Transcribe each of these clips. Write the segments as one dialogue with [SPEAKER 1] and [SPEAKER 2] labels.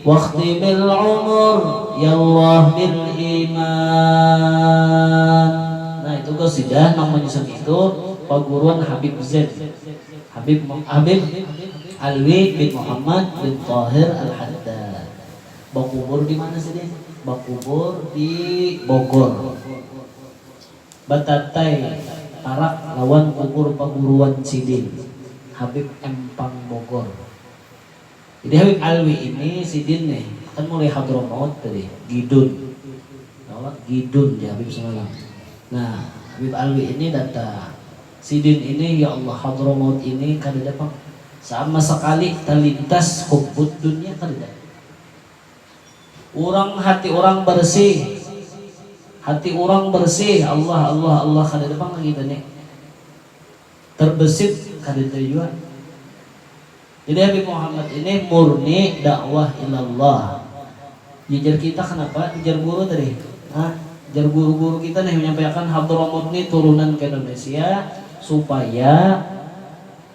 [SPEAKER 1] Wakhtimil umur yallah bil iman nah itu qasidah nang manyusun itu paguruan habib zain habib habib alwi bin muhammad bin thahir al haddad bakubur dimana sidin bakubur di bogor batatai parak lawan kubur paguruan sidin habib empang bogor. Jadi hawik alwi ini sidin nih kan mulai hadramaut tadi gidun kalo gidun jar habib semalam nah habib alwi ini datang sidin ini ya allah hadramaut ini kadada pang sama sakali talintas hubbud dunya kadada urang hati urang barsih hati urang barsih allah allah allah kadada pang ka kita nih terbesit kadada jua. Jadi Habib Muhammad ini murni dakwah ilallah. Ujar kita kenapa? Ujar guru tadi. Nah, ujar guru-guru kita nih menyampaiakan Hadramut nih turunan ke Indonesia supaya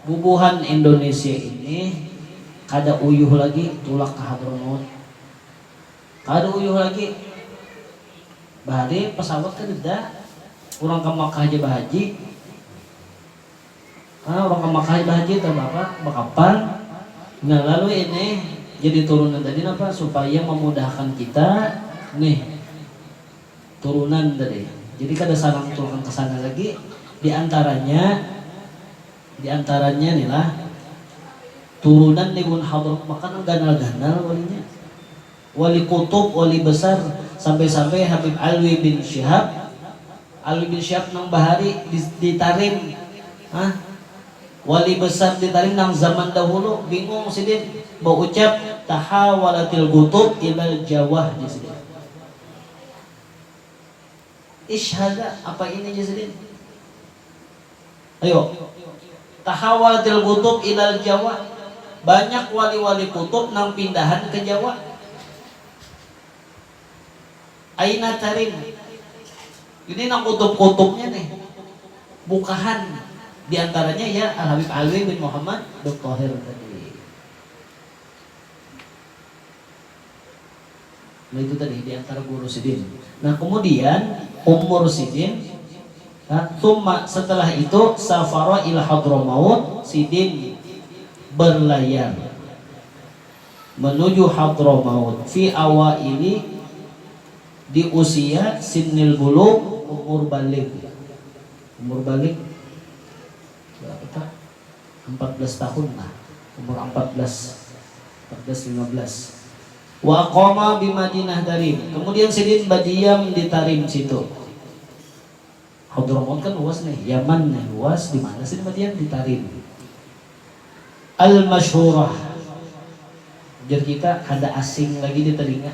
[SPEAKER 1] bubuhan Indonesia ini kada uyuh lagi tulak ke Hadramaut. Kada uyuh lagi. Bahari pesawat kadeda. Urang ke Makkah haja bahaji. Orang ka Makkah ai bahaji tah apa bakapal. Nah lalu ini jadi turunan tadi napa supaya mamudahkan kita nih turunan tadi jadi kada sarang tulakan ka sana lagi di antaranya di antaranya ni lah turunan ni Ibun Hadrat Makkah nang ganal-ganal walinya Wali Qutub, Wali Besar, sampai-sampai Habib Alwi bin Syihab, Alwi bin Syihab nang bahari di di Tarim, hah, Wali Besar di Tarim nang zaman dahulu, bingung sidin, baucap, Tahawalatil Qutub ilal Jawah, jar sidin. Ish hadza, apa ini jar sidin. Ayo. Tahawal til gutub ilal jawa, banyak wali-wali kutub nang pindahan ke jawa. Aina tarim. Ini nang kutub-kutubnya nih, bukahan di antaranya ya Al Habib Alwi bin Muhammad bin Thahir tadi. Nah itu tadi diantara guru sidin. Nah kemudian umur sidin nah tsumma setelah itu safara ila Hadramaut sidin berlayar menuju Hadramaut fi awaili di usia sinnil bulugh umur baligh. Umur baligh berapa ta? Ampat belas tahun lah, umur ampat belas, ampat belas lima belas. Wa qama bi Madinah Tarim, kemudian sidin badiam di Tarim situ. Hadramaut kan luas nih, Yaman nih luas, di mana sidin badiam? Di Tarim. Al masyhurah, ujar kita kada asing lagi di telinga.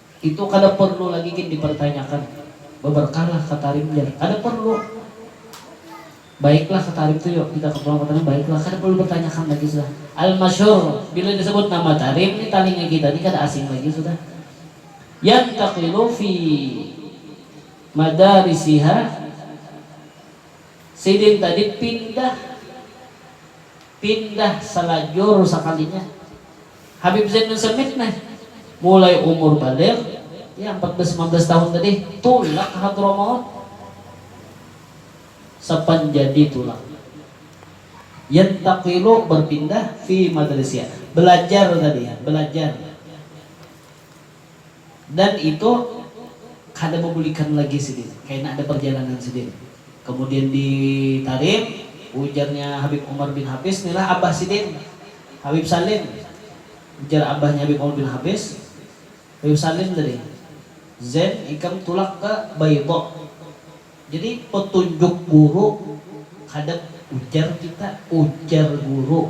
[SPEAKER 1] Itu kada perlu lagi gin dipertanyakan. Beberkahlah katarim jar. Kada perlu. Baiklah katarim tu yo, kita ketulah katarim baiklah. Kada perlu dipertanyakan lagi sudah. Al masyhur, bila disebut nama tarim ni talinga kita ni kada asing lagi sudah. Yantaqilu fi madarisiha, sidin tadi pindah, pindah salajur sakalinya. Habib Zain bin Samit neh, mulai umur baligh, ya ampat belas lima belas tahun tadi, tulak ka Hadramaut. Sapan jadi tulak. Yantaqilu, berpindah, fi madrisiha, belajar tadi, belajar. Dan itu kada babulikan lagi sidin, kaina ada parjalanan sidin. Kamudian di Tarim, ujarnya Habib Umar bin Hafiz, nilah abah sidin, Habib Salim. Ujar abahnya Habib Umar bin Hafiz, Habib Salim tadi, Zain ikam tulak ka Baydha. Jadi petunjuk guru kada ujar kita, ujar guru.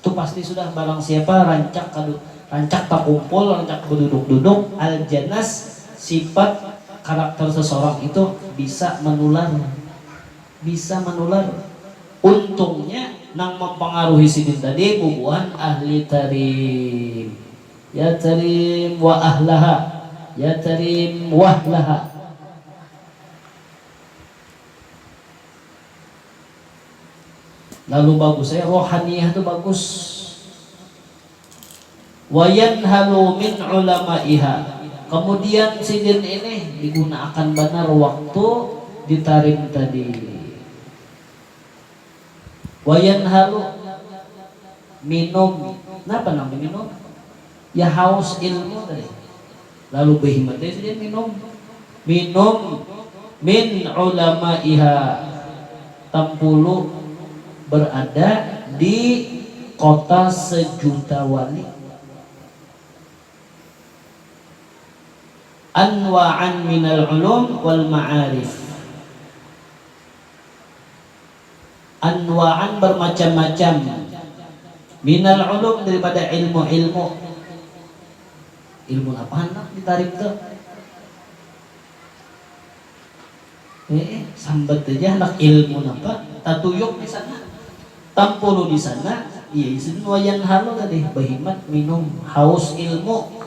[SPEAKER 1] Tu pasti sudah barang siapa rancak kadu rancak takumpul rancak baduduk duduk al janas sipat karakter sesorang itu bisa manular bisa manular untungnya nang mampangaruhi sidin tadi bubuhan ahli tarim ya tarim wa ahlaha ya tarim wahlaha. Lalu bagus ai rohaniyah tu bagus. Wayanhalu min ulamaiha kemudian sidin ini digunaakan banar waktu di tarim tadi. Wayanhalu minum napa nang diminum. Ya haus ilmu tadi. Lalu bahimat ai sidin minum. Minum min ulama'iha. Tampulu berada di kota sejuta wali. Anwa'an minal ulum wal ma'arif. anwa'an barmacam-macam, minal ulum daripada ilmu-ilmu. Ilmu napa handak ditarik tu? He'e, sambat haja handak ilmu napa, tatuyuk di sana, tampulu di sana, iya ja sidin wayanhalu tadi, bahimat minum, haus ilmu.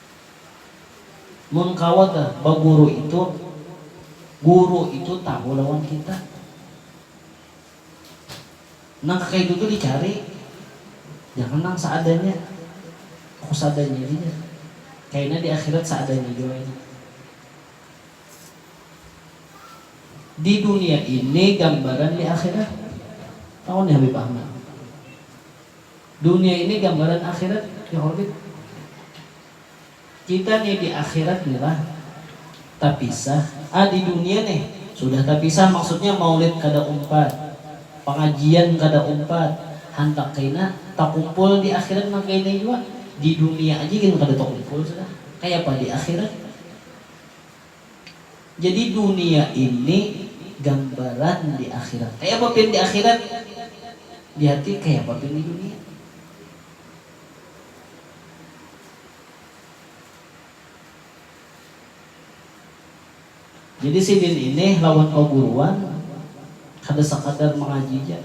[SPEAKER 1] Mun kawa ga baguru itu, guru itu tahu lawan kita. Nang kakaitu tu dicari, jangan nang seadanya. Aku seadanya ini jar. Kaina di akhirat seadanya jua kaina. Di dunia ini gambaran di akhirat. Tahu ni Habib Ahmad. Dunia ini gambaran akhirat ya Khalid. Kita nih di akhirat nih lah tapisah, ah di dunia nih sudah tapisah maksudnya maulid kada umpat, pangajian kada umpat, handak kaina takumpul di akhirat nang kaya ini jua, di dunia aja gin kada takumpul sudah, kayapa di akhirat. Jadi dunia ini gambaran di akhirat. Kaya apa pian di akhirat? Di hati kaya apa pian di dunia? Jadi sidin ini lawan paguruan kada sakadar mangaji ja.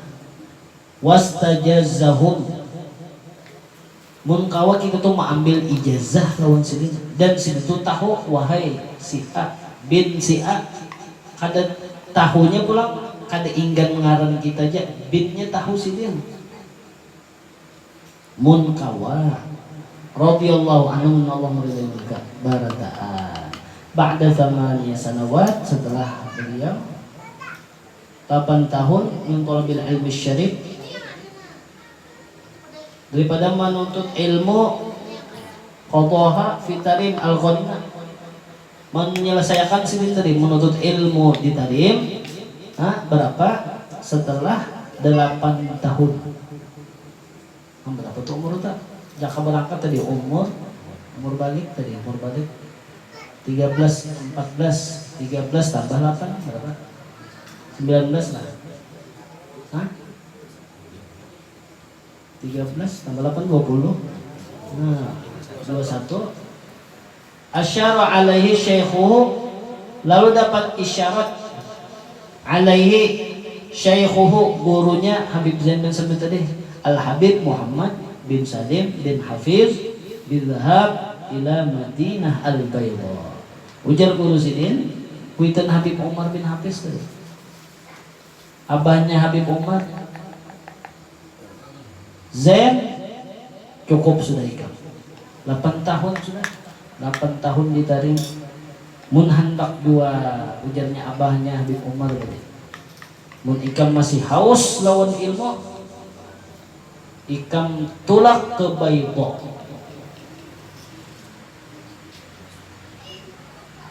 [SPEAKER 1] Wastajazzahum. Mun kawa kita tu maambil ijazah lawan sidin dan sidin tu tahu wahai si A bin si A kada tahunya pulang kada inggan ngaran kita ja binnya tahu sidin mun kawa radhiyallahu anhum Allah maridai murka barataan ba'da thamaniya sanawat setelah beliau tapan tahun min thalabil ilmi syarif. Daripada manuntut ilmu qadhaha fi tarim al-ghanina. Menyelesaiakan sidin tadi menuntut ilmu di tarim ha berapa setelah dalapan tahun. Am berapa tu umur uta? Jaka berangkat tadi umur umur balik tadi umur balik tiga belas empat belas tiga belas tambah lapan berapa? Sembilan belas lah. Ha? Tiga belas tambah lapan dua puluh. Nah, dua satu. Asyara alaihi syaikhuhu lalu dapat isyarat alaihi syaikhuhu gurunya Habib Zain bin Sabit tadi Al Habib Muhammad bin Salim bin Hafiz bidhhab ila Madinah Al Baidha. Ujar guru sidin, kuitan Habib Umar bin Hafiz tadi. Abahnya Habib Umar, Zain, cukup sudah ikam. Lapan tahun sudah, lapan tahun ditaring. Mun handak jua, ujarnya abahnya Habib Umar tadi. Mun ikam masih haus lawan ilmu, ikam tulak ke Baydha.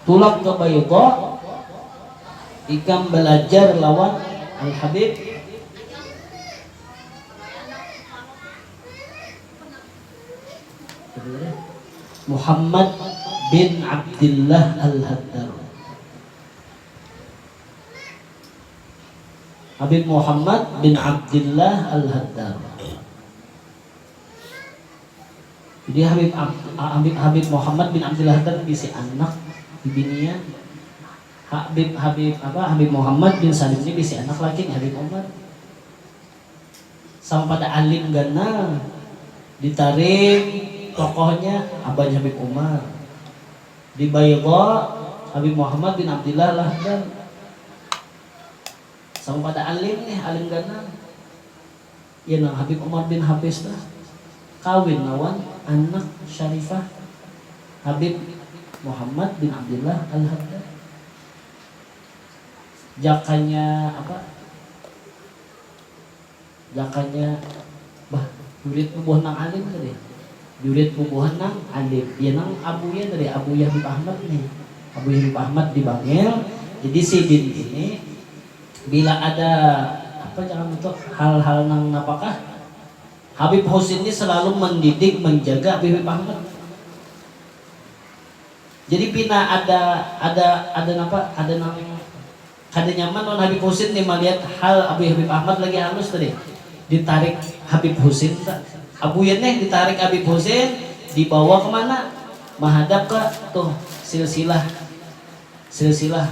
[SPEAKER 1] Tulak ka Baydha, ikam balajar lawan Al-Habib. Muhammad bin Abdillah Al-Haddar. Habib Muhammad bin Abdillah Al-Haddar. Jadi Habib Habib Habib Muhammad bin Abdullah tadi bisi anak bibinian. Habib Habib apa Habib Muhammad bin Salim ni bisi anak laki ni Habib Umar. Sama pada alim ganal ditarik tokohnya abahnya Habib Umar. Di Baydha Habib Muhammad bin Abdullah Lahdan. Sama pada alim nih alim ganal. Iya nang Habib Omar bin Habbes tah kawin lawan anak Syarifah Habib Muhammad bin Abdillah Al-Haddad. Jakanya apa? Jakanya, bah, jurit bubuhan nang alim tadi. Jurit bubuhan nang alim. Iya nang abunya tadi, abunya Habib Ahmad nih. Abunya Habib Ahmad di Bangil. Jadi sidin ini. Bila ada apa caram itu hal-hal nang napa kah? Habib Husin ni selalu mendidik menjaga Habib Ahmad. Jadi pina ada ada ada napa ada nang kada nyaman lawan Habib Husin ni malihat hal Abuyah Habib Ahmad lagi halus tadi ditarik Habib Husin ta. Abuyah nih ditarik Habib Husin dibawa ke mana? Mahadap ke tuh silsilah silsilah.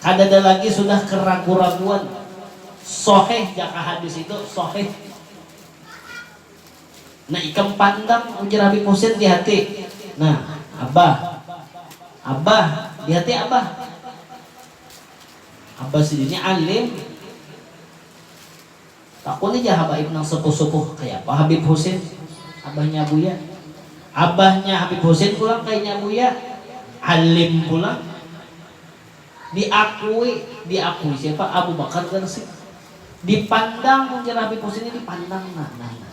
[SPEAKER 1] Kadada lagi sudah keragu-raguan, sohih jaka hadis itu, sohih. Nah ikam pandang ujar Habib Husin di hati, nah abah, abah, di hati abah, abah sidin ni alim. Takuni ja habaib nang sepuh-sepuh, kayapa Habib Husin? Abahnya Buya. Abahnya Habib Husin pulang kayanya Buya. Alim pulang. Diakui, diakui siapa? Abu Bakar Garsi. Dipandang mun jar Habib Husin nih dipandang nah, nah, nah.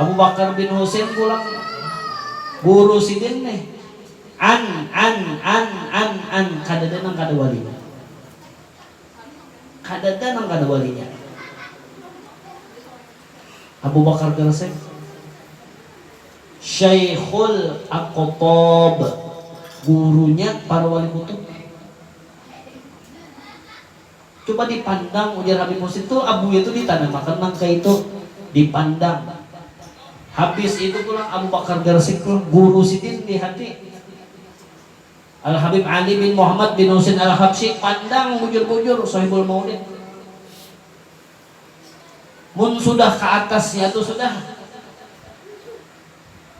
[SPEAKER 1] Abu Bakar bin Husain pulang guru sidin nih, an, an, an, an, an, kadada nang kada walinya. Kadada nang kada walinya. Abu Bakar garsek, Syaikhul Aqthab, gurunya para wali kutub. Coba dipandang ujar Habib Husin tu lah buya tu ditanamakan nang kaitu, dipandang. Habis itu pulang Abu Bakar Garsik pulang guru sidin di hati. Al Habib Ali bin Muhammad bin Husin Al Habsyi pandang bujur-bujur Sohibul Maulid. Mun sudah ka atas nya tu sudah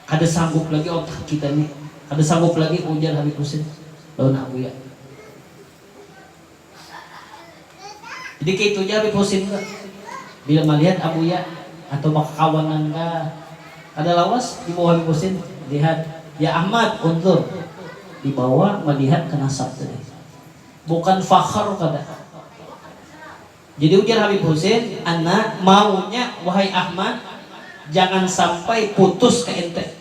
[SPEAKER 1] kada sanggup lagi otak kita ni, kada sanggup lagi ujar Habib Husin lawan Nak Buya. Jadi kaitu ja Habib Husin tu, bila malihat abuya atau bakakawanan ka, kada lawas dibawa Habib Husin, lihat, ya Ahmad, unzur, dibawa malihat ka nasab tadi, bukan fakhr kada. Jadi ujar Habib Husin, ana maunya wahai Ahmad jangan sampai putus ka ente.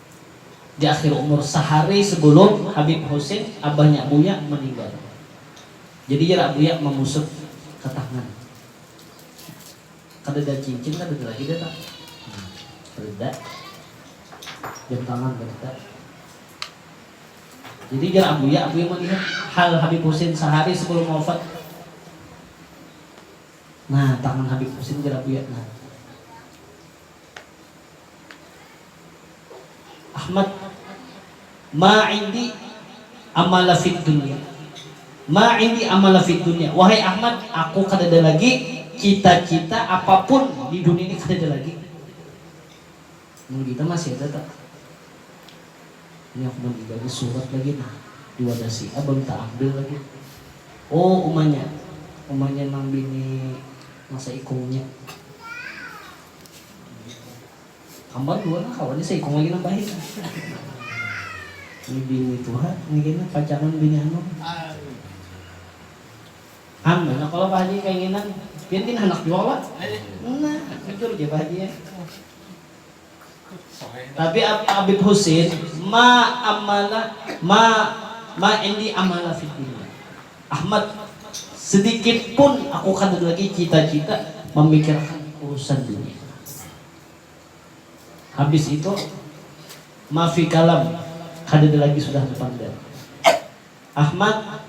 [SPEAKER 1] di akhir umur sahari sebelum habib husin abahnya buya meninggal jadi jar buya mangusut ke tangan kadada cincin kadada lagi dah tang kadada jam tangan kadada jadi jar buya buya melihat hal habib husin sahari sebelum wafat nah tangan habib husin jar buya nah. Ahmad, Ma indi amala fid dunya, ma indi amala fid dunya, wahai Ahmad, aku kadada lagi cita-cita apapun di dunia ini kadada lagi. Mun kita masih ada ta? Ini aku maninggal ni surat lagi nah di wadah si A balum taambil lagi. Oh umanya, umanya nang bini masa ikungnya. Hambal dua nah kawannya saikung lagi nang bahit. Ini bini tuha ini kena pacangan bini anum. Han, banyak kalo Pak Haji kainginan. Pian gin handak jua kalo? Nah, bujur ja Pak Haji ai. Tapi Abib Husin ma amala ma ma indi amala fid dunya. Ahmad, sedikit pun aku kada lagi cita-cita mamikirakan urusan dunia. Habis itu, mafi kalam, kadada lagi sudah bapander. Ahmad,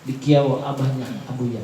[SPEAKER 1] dikiau abahnya Abuya.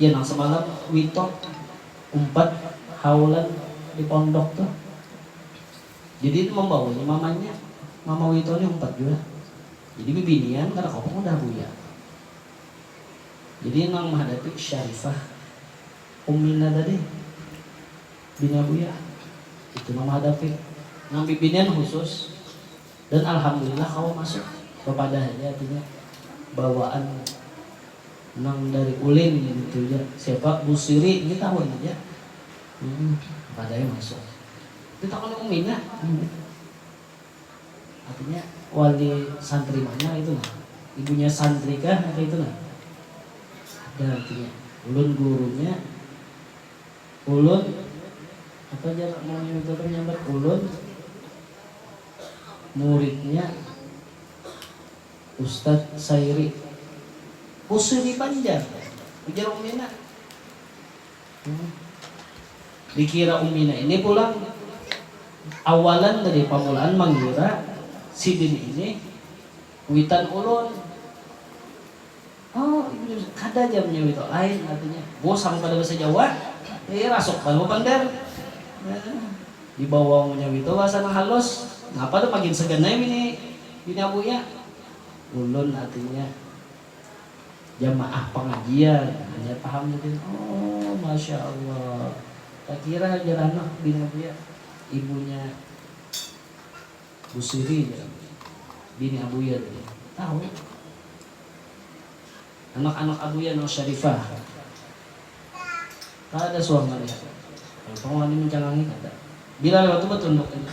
[SPEAKER 1] Iya nang semalam witok umpat haulan di pondok tu. Jadi itu mambawanya mamanya, mama wito ni umpat jua. Jadi bibinian kada kawa pang udah buya. Jadi nang mahadapi Syarifah, Umina tadi, bininya buya. Itu nang mahadapi. Nang bibinian khusus. Dan alhamdulillah kawa masuk bapadah haja artinya bawaan nang dari ulin ngitu ja siapa busiri ini tahun ja humm bapadahnya masuk di takuni umi nya umi artinya wali santri mana itu nah ibunya santri kah nang kaitu nah ada artinya ulun gurunya. Ulun, apa jar mama Mega manyambat ulun, muridnya Ustad Sairi. Usuh di Banjar, ujar Umina. Dikira Umina ini pulang, awalan tadi pamulaan mangira sidin ini kuitan ulun. Oh, ibu jua bisa. Kada jar munnya itu, lain artinya. Bos sampai kada bahasa Jawa, eh rasuk banar bapander. Dibawa munnya itu bahasa nang halus. Napa tu makin segan ai bini bini abu nya. Ulun artinya jamaah pengajian, hanyar paham sidin. Oh, masya Allah. Takira jar anak bini abu nya, ibunya. Bu Siri jar bini Abuya tadi. Tahu. Anak-anak Abuya nang syarifah. Kada suah malihat. Kalo pang wani mancalangi kada. Bila lewat tu batunduk haja.